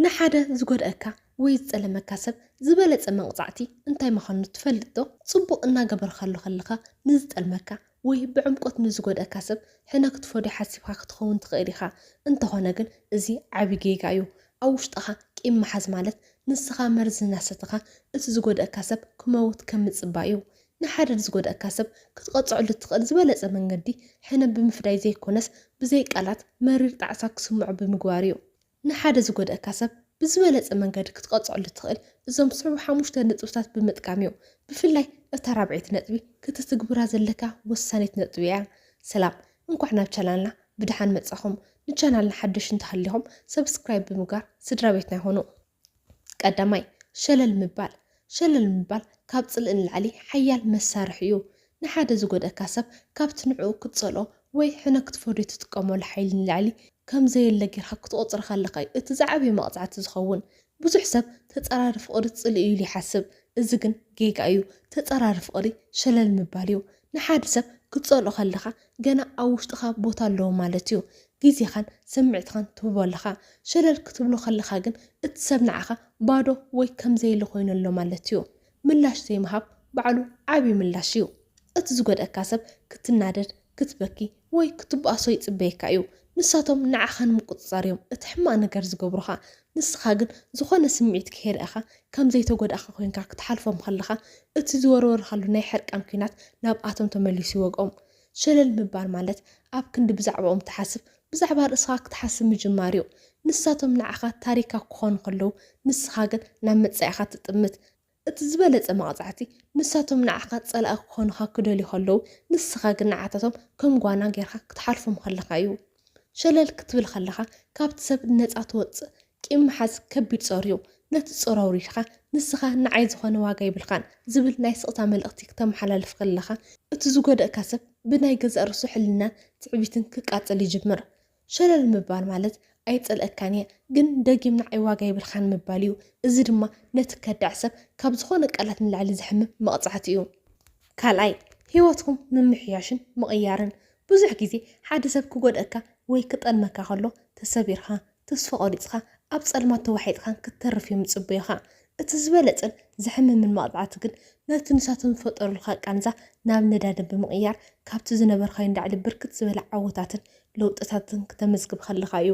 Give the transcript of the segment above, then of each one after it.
ንሓደ ዝጎድኣካ ወይ ዝጸለመካ ሰብ ዝበለጸ መቕጻዕቲ እንታይ ምዃኑ ትፈልጥዶ? ጽቡቕ እናገበርካሉ ከለኻ ንዝጠልመካ ወይ ብዕምቆት ንዝጎድኣካ ሰብ ሕነ ክትፈድዮ ሓሲብካ ክትኸውን ትኽእል ኢኻ። እንተኾነ ግን እዚ ዓቢ ጌጋ እዩ። ኣብ ውሽጥኻ ቂም ምሓዝ ማለት ንስኻ መርዚ እናሰተኻ እቲ ዝጎድኣካ ሰብ ክመውት ከም ምጽባይ እዩ። ንሓደ ዝጎድኣካ ሰብ ክትቐጽዐሉ እትኽእል ዝበለጸ መንገዲ ሕነ ብምፍዳይ ዘይኮነስ ብዘይ ቃላት መሪር ጣዕሳ ክስምዖ ብምግባር እዩ። ንሓደ ዝጎድኣካ ሰብ ብዝበለጸ መንገዲ ክትቐጽዐሉ እትኽእል እዞም ዝስዕቡ ሓሙሽተ ነጥብታት ብምጥቃም እዩ። ብፍላይ እታ ራብዐይቲ ነጥቢ ክተትግብራ ዘለካ ወሳኒት ነጥቢ እያ። ሰላም እንኳዕ ናብ ቻናልና ብደሓን መጻኹም ንቻናልና ሓደሽቲ እንተሃሊኹም ሰብስክራይብ ብምግባር ስድራቤትና ይኹኑ። ቀዳማይ፣ ሸለል ምባል። ሸለል ምባል ካብ ጽልኢ ንላዕሊ ሓያል መሳርሒ'ዩ። ንሓደ ዝጎድኣካ ሰብ ካብቲ ንዕኡ ክትጸልኦ ወይ ሕነ ክትፈድዮ እትጥቀመሉ ሓይሊ ንላዕሊ ከም ዘየለ ጌርካ ክትቖጽሮ ከለኻ'ዩ እቲ ዝዓበየ መቕጻዕቲ ዝኸውን። ብዙሕ ሰብ ተጻራሪ ፍቕሪ ጽልኢ'ዩ ኢሉ ይሓስብ፣ እዚ ግን ጌጋ'ዩ። ተጻራሪ ፍቕሪ ሸለል ምባል'ዩ። ንሓደ ሰብ ክትጸልኦ ከለኻ ገና ኣብ ውሽጥኻ ቦታ ኣለዎ ማለት እዩ። ግዜኻን ስምዒትኻን ትህቦ ኣለኻ። ሸለል ክትብሎ ከለኻ ግን እቲ ሰብ ንዓኻ ባዶ ወይ ከም ዘየለ ኮይኑ ኣሎ ማለት እዩ። ምላሽ ዘይምሃብ ባዕሉ ዓቢ ምላሽ እዩ። እቲ ዝጎድኣካ ሰብ ክትናደድ፣ ክትበኪ፣ ወይ ክትብኣሶ ይጽበየካ እዩ። ንሳቶም ንዓኻ ንምቁጽጻር እዮም እቲ ሕማቕ ነገር ዝገብሩኻ። ንስኻ ግን ዝኾነ ስምዒት ከይርኣኻ ከም ዘይተጎዳእካ ኮይንካ ክትሓልፎም ከለኻ እቲ ዝወርወርካሉ ናይ ሕርቃን ኲናት ናብኣቶም ተመሊሱ ይወግኦም። ሸለል ምባል ማለት ኣብ ክንዲ ብዛዕባኦም ትሓስብ ብዛዕባ ርእስኻ ክትሓስብ ምጅማር እዩ። ንሳቶም ንዓኻ ታሪካ ክኾኑ ከለዉ ንስኻ ግን ናብ መጻኢኻ ትጥምት። እቲ ዝበለጸ መቕጻዕቲ፣ ንሳቶም ንዓኻ ጸላኢ ክኾኑኻ ክደልዩ ከለዉ፣ ንስኻ ግን ንዓታቶም ከም ጓና ጌርካ ክትሓልፎም ከለኻ እዩ። ሸለል ክትብል ከለኻ፣ ካብቲ ሰብ ነጻ ትወጽእ። ቂም ምሓዝ ከቢድ ጾር እዩ። ነቲ ጾር ኣውሪድካ፣ ንስኻ ንዓይ ዝኾነ ዋጋ የብልካን ዝብል ናይ ስቕታ መልእኽቲ ክተመሓላልፍ ከለኻ፣ እቲ ዝጎደእካ ሰብ ብናይ ገዛእ ርእሱ ሕልናን ትዕቢትን ክቃጸል ይጅምር። ሸለል ምባል ማለት ኣይጸልኣካን እየ ግን ደጊም ንዓይ ዋጋ የብልካን ምባል እዩ። እዚ ድማ ነቲ ከዳዕ ሰብ ካብ ዝኾነ ቃላት ንላዕሊ ዘሕምም መቕጻዕቲ እዩ። ካልኣይ፣ ህይወትኩም ምምሕያሽን ምቕያርን። ብዙሕ ግዜ ሓደ ሰብ ክጎድኣካ ወይ ክጠልመካ ከሎ ተሰቢርካ፣ ተስፋ ቆሪጽካ፣ ኣብ ጸልማት ተዋሒጥካን ክትተርፍ እዮም ዝጽበዩኻ። እቲ ዝበለጸን ዘሕምምን መቕጻዕቲ ግን ነቲ ንሳቶም ዝፈጠሩልካ ቃንዛ ናብ ነዳዲ ብምቕያር ካብቲ ዝነበርካዮ ንላዕሊ ብርክት ዝበለ ዓወታትን ለውጥታትን ክተመዝግብ ከለኻ እዩ።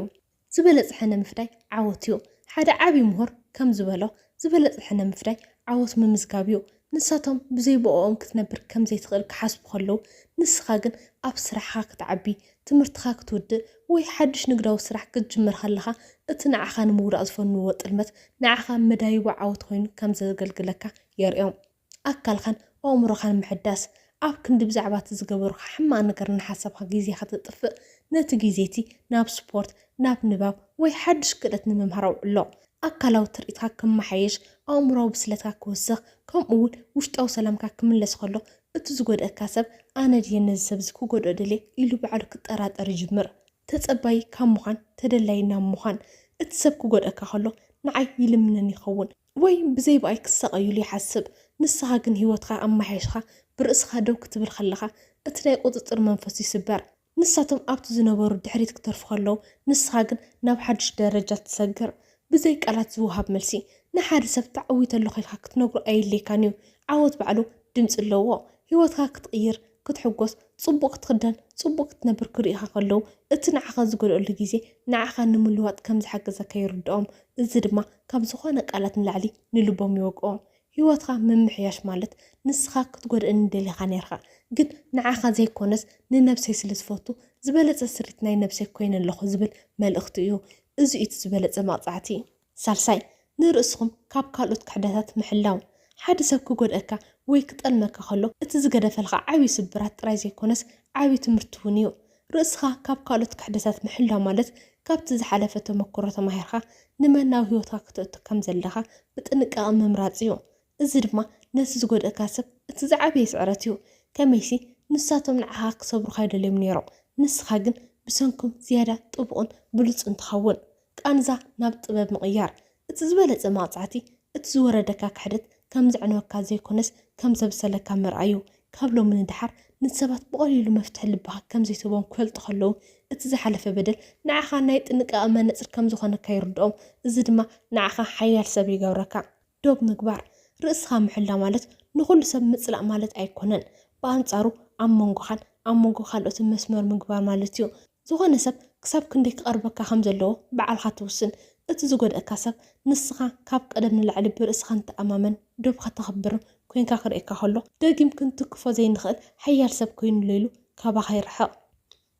ዝበለጸ ሕነ ምፍዳይ ዓወት እዩ። ሓደ ዓቢ ምሁር ከም ዝበሎ ዝበለጸ ሕነ ምፍዳይ ዓወት ምምዝጋብ እዩ። ንሳቶም ብዘይ ብእኦም ክትነብር ከም ዘይትኽእል ክሓስቡ ከለዉ፣ ንስኻ ግን ኣብ ስራሕኻ ክትዓቢ፣ ትምህርትኻ ክትውድእ ወይ ሓድሽ ንግዳዊ ስራሕ ክትጅምር ከለኻ፣ እቲ ንዓኻ ንምውዳቕ ዝፈንውዎ ጥልመት ንዓኻ መዳይቦ ዓወት ኮይኑ ከም ዘገልግለካ የርእዮም። ኣካልካን ኣእምሮኻን ምሕዳስ፣ ኣብ ክንዲ ብዛዕባ እቲ ዝገበሩኻ ሕማቕ ነገር እናሓሰብካ ግዜ ከተጥፍእ፣ ነቲ ግዜ'ቲ ናብ ስፖርት፣ ናብ ንባብ ወይ ሓድሽ ክእለት ንምምሃር ኣውዕሎ። ኣካላዊ ትርኢትካ ክመሓየሽ፣ ኣእምሮኣዊ ብስለትካ ክውስኽ፣ ከምኡ'ውን ውሽጣዊ ሰላምካ ክምለስ ከሎ፣ እቲ ዝጐድኣካ ሰብ፣ ኣነ ድየ ነዚ ሰብ'ዚ ክጐድኦ ደልየ? ኢሉ ባዕሉ ክጠራጠር ይጅምር። ተጸባዪ ካብ ምዃን፣ ተደላዪ ናብ ምዃን። እቲ ሰብ ክጐድኣካ ከሎ፣ ንዓይ ይልምነኒ ይኸውን፣ ወይ ብዘይ ብኣይ ክሳቐዩሉ ይሓስብ። ንስኻ ግን ህይወትካ ኣመሓይሽካ ብርእስኻ ደው ክትብል ከለኻ፣ እቲ ናይ ቍጽጽር መንፈሱ ይስበር። ንሳቶም ኣብቲ ዝነበሩ ድሕሪት ክተርፉ ከለዉ፣ ንስኻ ግን ናብ ሓድሽ ደረጃ ትሰግር። ብዘይ ቃላት ዝወሃብ መልሲ። ንሓደ ሰብ ተዓዊተሉ ዄንካ ክትነግሮ ኣየድልየካን እዩ። ዓወት ባዕሉ ድምጺ ኣለዎ። ህይወትካ ክትቕይር፣ ክትሕጐስ፣ ጽቡቕ ክትኽደን፣ ጽቡቕ ክትነብር ክርእዩኻ ከለዉ፣ እቲ ንዓኻ ዝጐድኣሉ ግዜ ንዓኻ ንምልዋጥ ከም ዝሓገዘካ ይርድኦም። እዚ ድማ ካብ ዝዀነ ቃላት ንላዕሊ ንልቦም ይወግኦ። ህይወትካ ምምሕያሽ ማለት ንስካ ክትጎድእኒ ደሊካ ኔርካ ግን ንዓካ ዘይኮነስ ንነብሰይ ስለ ዝፈቱ ዝበለጸ ስሪት ናይ ነብሰይ ኮይነ ኣለኩ ዝብል መልእክቲ እዩ እዚ እዩ እቲ ዝበለጸ መቅጻዕቲ። ሳልሳይ ንርእስኩም ካብ ካልኦት ክሕደታት ምሕላው። ሓደ ሰብ ክጎድኣካ ወይ ክጠልመካ ከሎ እቲ ዝገደፈልካ ዓቢ ስብራት ጥራይ ዘይኮነስ ዓቢ ትምህርቲ ውን እዩ። ርእስኻ ካብ ካልኦት ክሕደታት ምሕላው ማለት ካብቲ ዝሓለፈ ተመክሮ ተማሂርካ ንመናዊ ህይወትካ ክተእቱ ከም ዘለካ ብጥንቃቐ ምምራጽ እዩ። እዚ ድማ ነቲ ዝጎድእካ ሰብ እቲ ዝዓበየ ስዕረት እዩ። ከመይሲ ንሳቶም ንዓኻ ክሰብሩኻ ኣይደልዮም ነይሮም፣ ንስኻ ግን ብሰንኮም ዝያዳ ጥቡቕን ብሉጽን ትኸውን። ቃንዛ ናብ ጥበብ ምቕያር። እቲ ዝበለጸ መቕጻዕቲ እቲ ዝወረደካ ክሕደት ከም ዘዕንወካ ዘይኮነስ ከም ዘብሰለካ ምርኣይ'ዩ። ካብ ሎሚ ንደሓር ንሰባት ብቐሊሉ መፍትሒ ልብኻ ከም ዘይትህቦም ክፈልጡ ከለዉ፣ እቲ ዝሓለፈ በደል ንዓኻ ናይ ጥንቃቐ መነጽር ከም ዝኾነካ ይርድኦም። እዚ ድማ ንዓኻ ሓያል ሰብ ይገብረካ። ዶብ ምግባር፣ ርእስኻ ምሕላው ማለት ንኹሉ ሰብ ምጽላእ ማለት ኣይኮነን። ብኣንጻሩ ኣብ መንጎኻን ኣብ መንጎ ካልኦትን መስመር ምግባር ማለት'ዩ። ዝኾነ ሰብ ክሳብ ክንደይ ክቐርበካ ከም ዘለዎ ብዓልኻ ትውስን። እቲ ዝጎድኣካ ሰብ ንስኻ ካብ ቀደም ንላዕሊ ብርእስኻ ንተኣማመን፣ ዶብካ ተኽብር ኮይንካ ክርእየካ ከሎ ደጊም ክንትክፎ ዘይንኽእል ሓያል ሰብ ኮይኑ ኣሎ ኢሉ ካባኻ ይርሕቕ።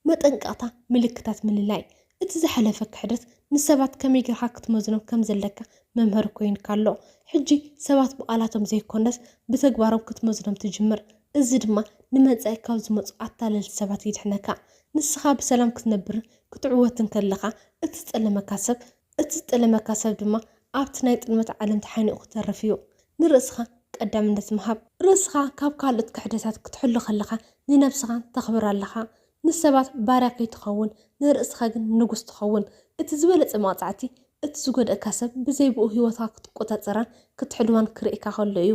መጠንቀቕታ ምልክታት ምልላይ፣ እቲ ዝሓለፈ ክሕደት ንሰባት ከመይ ጌርካ ክትመዝኖም ከም ዘለካ መምሀሪ ኮይንካ ኣሎ። ሕጂ ሰባት ብቓላቶም ዘይኮነስ ብተግባሮም ክትመዝኖም ትጅምር። እዚ ድማ ንመጻኢ ካብ ዝመጹ ኣታለልቲ ሰባት ይድሕነካ። ንስኻ ብሰላም ክትነብርን ክትዕወትን ከለኻ፣ እቲ ዝጠለመካ ሰብ እቲ ዝጠለመካ ሰብ ድማ ኣብቲ ናይ ጥልመት ዓለም ተሓኒቑ ክተርፍ እዩ። ንርእስኻ ቀዳምነት ምሃብ። ርእስኻ ካብ ካልኦት ክሕደታት ክትሕሉ ከለኻ ንነብስኻ ተኽብር ኣለኻ። ንሰባት ባርያ ከይትኸውን ንርእስኻ ግን ንጉስ ትኸውን። እቲ ዝበለጸ መቕጻዕቲ እቲ ዝጎድእካ ሰብ ብዘይ ብኡ ህይወትካ ክትቆጻጸራን ክትሕልዋን ክርእየካ ከሎ እዩ።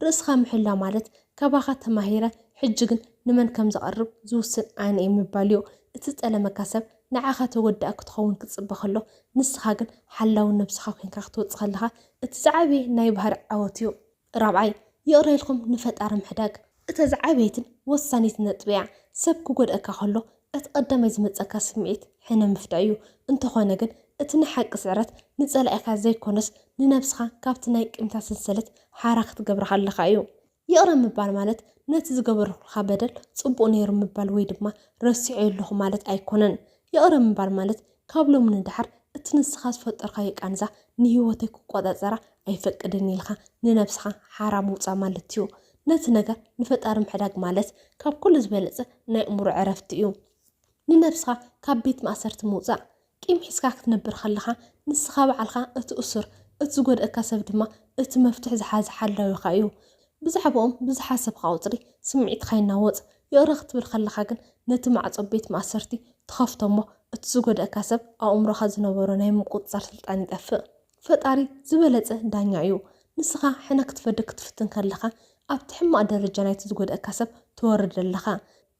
ርእስኻ ምሕላ ማለት ካባኻ ተማሂረ ሕጂ ግን ንመን ከም ዘቕርብ ዝውስን ኣነ እየ ምባልዮ። እቲ ዝጠለመካ ሰብ ንዓኻ ተወዳኢ ክትኸውን ክጽበ ከሎ ንስኻ ግን ሓላዊ ነብስኻ ኮንካ ክትወጽእ ከለኻ እቲ ዝዓበየ ናይ ባህሪ ዓወት እዩ። ራብዓይ፣ ይቕረ ኢልኩም ንፈጣሪ ምሕዳግ። እታ ዝዓበየትን ወሳኒትን ነጥቢ'ያ። ሰብ ክጎድኣካ ከሎ እቲ ቀዳማይ ዝመጸካ ስምዒት ሕነ ምፍዳይ እዩ። እንተኾነ ግን እቲ ናይ ሓቂ ስዕረት ንጸላኢኻ ዘይኮነስ ንነብስኻ ካብቲ ናይ ቂምታ ሰንሰለት ሓራ ክትገብራ ከለኻ እዩ። ይቕረ ምባል ማለት ነቲ ዝገበርኩልካ በደል ጽቡቕ ነይሩ ምባል ወይ ድማ ረሲዔዮ ኣለኹ ማለት ኣይኮነን። ይቕረ ምባል ማለት ካብ ሎሚ ንደሓር እቲ ንስኻ ዝፈጠርካዮ ቃንዛ ንህይወተይ ክቆጻጸራ ኣይፈቅድን ኢልካ ንነብስኻ ሓራ ምውጻእ ማለት'ዩ። ነቲ ነገር ንፈጣሪ ምሕዳግ ማለት ካብ ኩሉ ዝበለጸ ናይ ኣእምሮ ዕረፍቲ እዩ። ንነብስኻ ካብ ቤት ማእሰርቲ ምውጻእ። ቂም ሒዝካ ክትነብር ከለኻ ንስኻ ባዕልኻ እቲ እሱር፣ እቲ ዝጎድኣካ ሰብ ድማ እቲ መፍትሕ ዝሓዘ ሓላዊኻ እዩ። ብዛዕብኦም ብዝሓሰብካ ቁጽሪ ስምዒትካ ይናወጽ፣ ይቕረ ክትብል ከለኻ ግን ነቲ ማዕጾ ቤት ማእሰርቲ ትኸፍቶ እሞ እቲ ዝጎደእካ ሰብ ኣብ ኣእምሮኻ ዝነበሮ ናይ ምቁጽጻር ስልጣን ይጠፍእ። ፈጣሪ ዝበለጸ ዳኛ እዩ። ንስኻ ሕነ ክትፈዲ ክትፍትን ከለኻ ኣብቲ ሕማቕ ደረጃ ናይቲ ዝጎደእካ ሰብ ትወርድ ኣለኻ።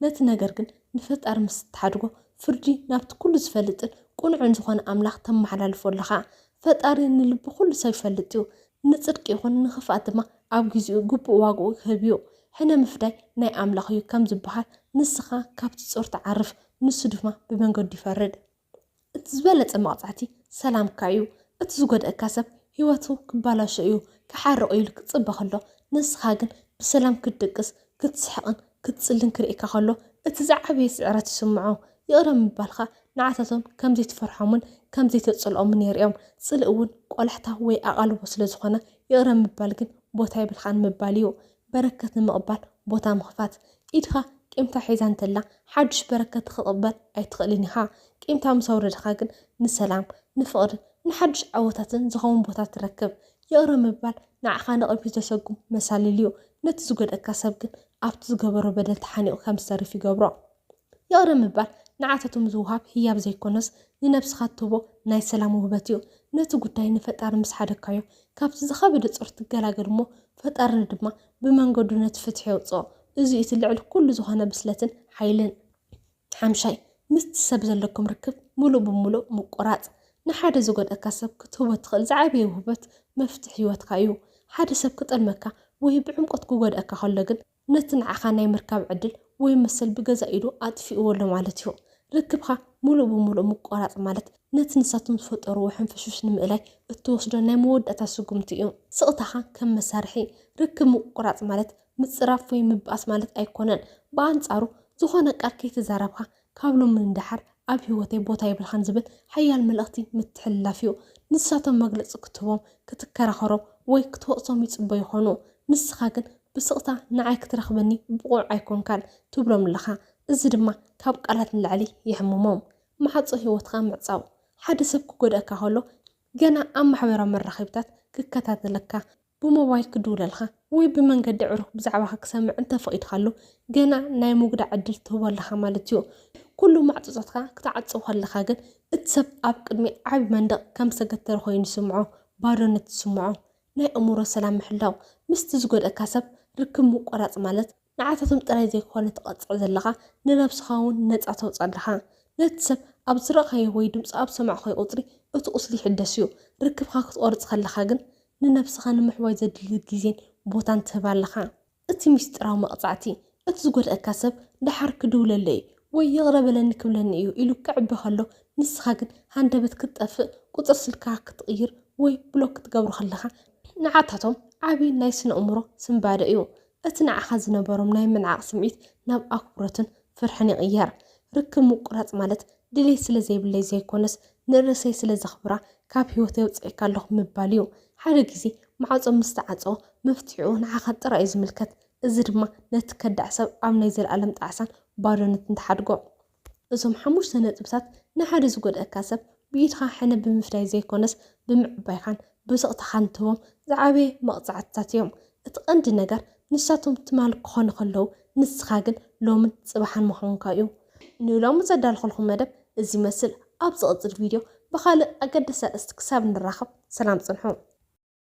ነቲ ነገር ግን ንፈጣሪ ምስ እትሓድጎ ፍርዲ ናብቲ ኩሉ ዝፈልጥን ቅኑዕን ዝኾነ ኣምላኽ ተመሓላልፎ ኣለኻ። ፈጣሪ ንልቢ ዅሉ ሰብ ይፈልጥ እዩ፣ ንጽድቂ ይኹን ንኽፍኣት ድማ ኣብ ግዜኡ ግቡእ ዋጋኡ ክህብ እዩ። ሕነ ምፍዳይ ናይ ኣምላኽ እዩ ከም ዝበሃል፣ ንስኻ ካብቲ ጾር ትዓርፍ፣ ንሱ ድማ ብመንገዱ ይፈርድ። እቲ ዝበለጸ መቕጻዕቲ ሰላምካ እዩ። እቲ ዝጐድኣካ ሰብ ህይወቱ ክበላሾ እዩ፣ ክሓርቕ እዩ ኢሉ ክጽበ ኸሎ፣ ንስኻ ግን ብሰላም ክትድቅስ፣ ክትስሕቕን ክትጽልን ክርእየካ ከሎ እቲ ዝዓበየ ስዕረት ይስምዖ። ይቕረ ምባልካ ንዓታቶም ከም ዘይትፈርሖምን ከም ዘይተጽልኦምን የርእዮም። ጽልኢ እውን ቆላሕታ ወይ ኣቓልቦ ስለ ዝኾነ፣ ይቕረ ምባል ግን ቦታ የብልካን ምባል እዩ። በረከት ንምቕባል ቦታ ምኽፋት። ኢድካ ቂምካ ሒዛ እንተላ ሓዱሽ በረከት ክትቕበል ኣይትኽእልን ኢኻ። ቂምካ ምስ ኣውረድካ ግን ንሰላም፣ ንፍቕሪ፣ ንሓዱሽ ዓወታትን ዝኸውን ቦታ ትረክብ። ይቕረ ምባል ንዓኻ ንቕድሚት ዘሰጉም መሳልል እዩ፣ ነቲ ዝጎድኣካ ሰብ ግን ኣብቲ ዝገበሮ በደል ተሓኒቑ ከም ዝተርፍ ይገብሮ። ይቕረ ምባል ንዓታቶም ዝወሃብ ህያብ ዘይኰነስ ንነብስኻ እትህቦ ናይ ሰላም ውህበት እዩ። ነቲ ጉዳይ ንፈጣሪ ምስ ሓደግካዮ፣ ካብቲ ዝኸበደ ጾር ትገላገል እሞ ፈጣሪ ድማ ብመንገዱ ነቲ ፍትሒ የውጽኦ። እዚ'ዩ እቲ ልዕሊ ኵሉ ዝዀነ ብስለትን ሓይልን። ሓምሻይ፣ ምስቲ ሰብ ዘለኩም ርክብ ምሉእ ብምሉእ ምቁራጽ። ንሓደ ዝጎድኣካ ሰብ ክትህቦ እትኽእል ዝዓበየ ውህበት መፍትሕ ህይወትካ እዩ። ሓደ ሰብ ክጠልመካ ወይ ብዕምቆት ክጎድኣካ ከሎ ግን ነቲ ንዓኻ ናይ ምርካብ ዕድል ወይ መሰል ብገዛእ ኢዱ ኣጥፊእዎ ኣሎ ማለት እዩ። ርክብካ ምሉእ ብምሉእ ምቆራጽ ማለት ነቲ ንሳቶም ዝፈጠርዎ ሕንፍሽፍሽ ንምእላይ እትወስዶ ናይ መወዳእታ ስጉምቲ እዩ። ስቕታኻ ከም መሳርሒ። ርክብ ምቁራጽ ማለት ምጽራፍ ወይ ምብኣስ ማለት ኣይኮነን። ብኣንጻሩ ዝኾነ ቃል ከይተዛረብካ ካብ ሎሚ ንደሓር ኣብ ህይወተይ ቦታ የብልካን ዝብል ሓያል መልእኽቲ ምትሕልላፍ እዩ። ንሳቶም መግለጺ ክትህቦም፣ ክትከራኸሮም ወይ ክትወቕሶም ይጽበዩ ይኾኑ። ንስኻ ግን ብስቕታ ንዓይ ክትረኽበኒ ብቑዕ ኣይኮንካን ትብሎም ኣለኻ። እዚ ድማ ካብ ቃላት ንላዕሊ የሕምሞም። ማዕጾ ህይወትካ ምዕጻው። ሓደ ሰብ ክጎድኣካ ከሎ ገና ኣብ ማሕበራዊ መራኸቢታት ክከታተለካ፣ ብሞባይል ክድውለልካ ወይ ብመንገዲ ዕሩኽ ብዛዕባኻ ክሰምዕ እንተፈቒድካሉ ገና ናይ ምጉዳእ ዕድል ትህቦ ኣለኻ ማለት እዩ። ኩሉ ማዕጾታትካ ክትዓጽው ከለኻ ግን እቲ ሰብ ኣብ ቅድሚ ዓቢ መንደቕ ከም ዝተገተረ ኮይኑ ይስምዖ፣ ባዶነት ይስምዖ። ናይ ኣእምሮ ሰላም ምሕላው፣ ምስቲ ዝጎድኣካ ሰብ ርክብ ምቁራጽ ማለት ንዓታቶም ጥራይ ዘይኮነ ትቐጽዕ ዘለኻ ንነብስኻ ውን ነጻ ተውጽእ ኣለኻ። ነቲ ሰብ ኣብ ዝረኣኻዮ ወይ ድምጹ ኣብ ሰማዕካዮ ቁጽሪ እቲ ቁስሊ ይሕደስ እዩ። ርክብካ ክትቖርጽ ከለኻ ግን ንነብስኻ ንምሕዋይ ዘድሊ ግዜን ቦታን ትህብ ኣለኻ። እቲ ምስጢራዊ መቕጻዕቲ እቲ ዝጎድኣካ ሰብ ደሓር ክድውለለይ እዩ ወይ ይቕረ በለኒ ክብለኒ እዩ ኢሉ ክዕቢ ከሎ ንስኻ ግን ሃንደበት ክትጠፍእ ቁጽሪ ስልክኻ ክትቕይር ወይ ብሎክ ክትገብሮ ከለኻ ንዓታቶም ዓቢ ናይ ስነ-ኣእምሮ ስንባደ እዩ። እቲ ንዓኻ ዝነበሮም ናይ ምንዓቕ ስምዒት ናብ ኣኽብሮትን ፍርሕን ይቕየር። ርክብ ምቁራጽ ማለት ድሌት ስለ ዘይብለይ ዘይኮነስ ንርእሰይ ስለ ዘኽብራ ካብ ህይወተይ ኣውጺኤካ ኣለኹ ምባል እዩ። ሓደ ግዜ ማዕጾ ምስ ተዓጸወ መፍትሒኡ ንዓኻ ጥራይ እዩ ዝምልከት፣ እዚ ድማ ነቲ ከዳዕ ሰብ ኣብ ናይ ዘለኣለም ጣዕሳን ባዶነትን ትሓድጎ። እዞም ሓሙሽተ ነጥብታት ንሓደ ዝጎድኣካ ሰብ ብኢድኻ ሕነ ብምፍዳይ ዘይኮነስ ብምዕባይካን ብስቕታኻን ትህቦም ዝዓበየ መቕጻዕትታት እዮም። እቲ ቀንዲ ነገር ንሳቶም ትማል ክኾኑ ከለዉ ንስኻ ግን ሎምን ጽባሕን ምዃንካ እዩ። ንሎሚ ዘዳለኹልኩም መደብ እዚ ይመስል። ኣብ ዝቕጽል ቪድዮ ብኻልእ ኣገዳሲ ኣርእስቲ ክሳብ ንራኸብ ሰላም ጽንሑ።